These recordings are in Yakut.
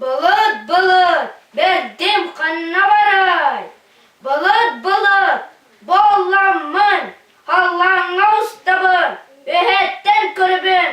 Былыт, былыт, бэрдим ханна барай? Былыт, былыт, болламмын, халлааҥҥа устабын, бэһэттэн көрүбүн,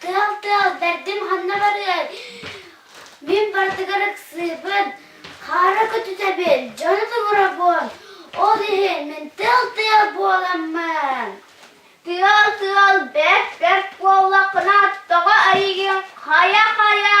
Тыал тыал бэрдим ханна барыай? Мин барытыгар ыксыыбын, хаара көтүтэбин, дьону тулурабын. Ол иһин мин тыал-тыал буоламмын. Тыал-тыал бэрт-бэрт буоллаххына тоҕо эйигин хайа-хайа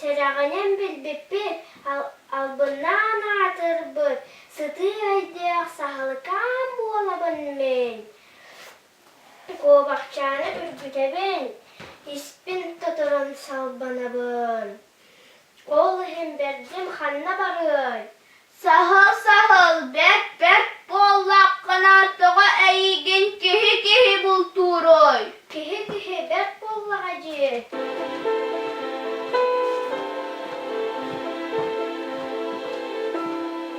Сэрэҕинэн билбиппин албыннаан аатырбыт сытыы өйдөөх саһылыкаан буолабын мин Куобахчааны үргүтэбин, испин тоторон салбанабын. Ол иһин бэрдим ханна барыай? Саһыл, саһыл, бэп-бэп буоллаххына тоҕо эйиигин киһи-киһи бултууруй? Киһи-киһи бэп буоллаҕа дии.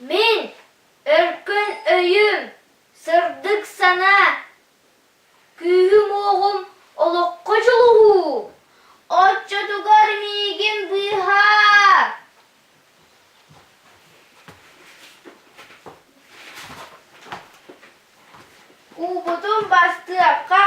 Мин өркөн өйүм, сырдык санаа, күүһүм-уоҕум олоххо дьулуһуу оччотугар миигин быыһаар Куубутун бастыахха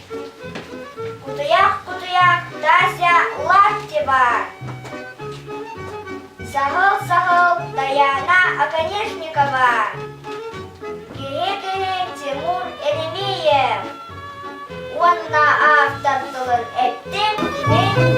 Кутуйах кутуйах Тася Латтева Саһыл Саһыл Даяна Оконешникова Киһи киһи Тимур Элимиев уонна автор тылын эттим кини